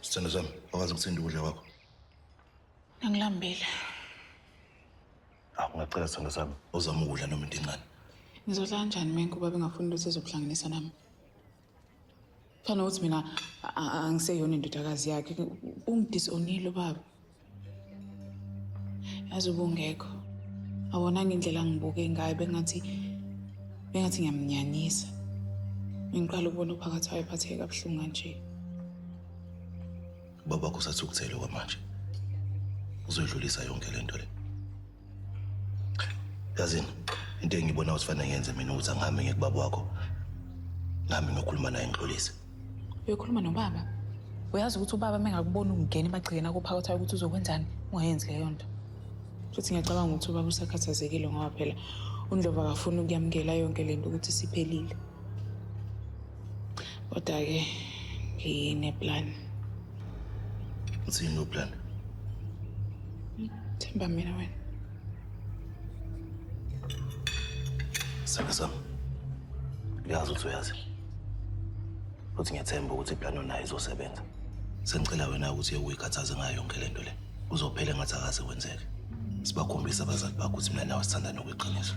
Sithando sami, wakwazi ukuthinta ukudla kwakho. Angilambile. Ah, ungacela sithando sami, uzama ukudla noma into encane. Ngizodla kanjani mina kuba bengafuni ukuthi ezokuhlanganisa nami? Fana ukuthi mina a- a- angiseyona indodakazi yakhe. Ungidisonile ubaba. yazi ubungekho awonanga indlela ngibuke ngayo bengathi bengathi ngiyamnyanisa ngiqala ukubona uphakathi wayo phatheke kabuhlungu kanje ubabakho usathi ukuthele kwamanje uzoyidlulisa yonke le nto le yazini into engibona ukuthi fanele ngenze mina ukuthi angihambe ngiye kubaba wakho nami ngiyokhuluma naye ngixolise uyokhuluma nobaba uyazi ukuthi ubaba uma engakubona ungena emagcikeni akuphakathayo ukuthi uzokwenzani ungayenzi leyo nto futhi ngiyacabanga ukuthi ubaba usakhathazekile ngoba phela undlovu akafuni ukuyamukela yonke le nto ukuthi siphelile kodwa ke ngineplan uthini uplan themba mina wena saka sam ngiyazi ukuthi uyazi futhi ngiyathemba ukuthi iplan onayo izosebenza sengicela wena ukuthi uyekhathaze ngayo yonke le nto le kuzophela engathi akaze kwenzeke sibakhombisa abazali bakho ukuthi mina nawe sithanda nokweqiniso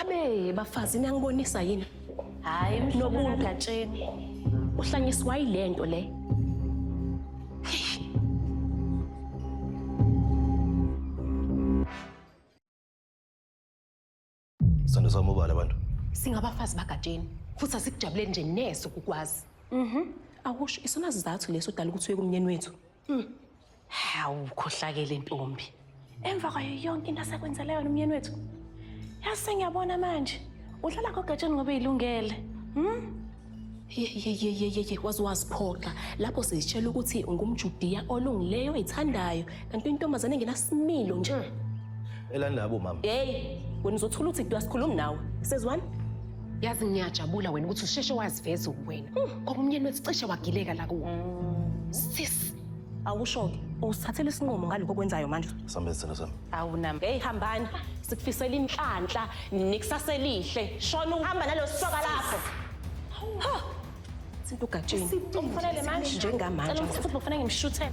Abe bafazi niyangibonisa yini? Hayi nobuntu gatsheni. Uhlanyiswa yilento le. Sando sami ubala abantu. Singabafazi bagatsheni futhi asikujabuleni nje neso kukwazi. Mhm. Awusho isona sizathu leso dala ukuthi uye kumnyeni wethu. Mhm. Hawu ukhohlakele ntombi. Emva kwayo yonke into asekwenzela yona umyeni wethu. Yazi sengiyabona manje. Udlala kogatsheni ngoba ilungele. Hm? yeyeyeyeye waze waziphoxa lapho sizitshela ukuthi ungumjudiya olungileyo oyithandayo kanti intombazane engenasimilo nje elani labo mama hey wena uzothula uthi kudu asikhulumi nawe sezwani yazi ngiyajabula wena ukuthi usheshe waziveza uwena hmm. ngoba umnyeni wethu cishe wagileka la kuwo hmm. sis awusho-ke usithathela isinqumo ngalokho okwenzayo manje Sambe sithina sami. awunami eyi hambani sikufisela inhlanhla nekusasa elihle shona uhamba nalosoka lakho Ha! sinto ugatsheni Umfanele manje. njengamanje Cela umthathe ubufana ngimshuthele.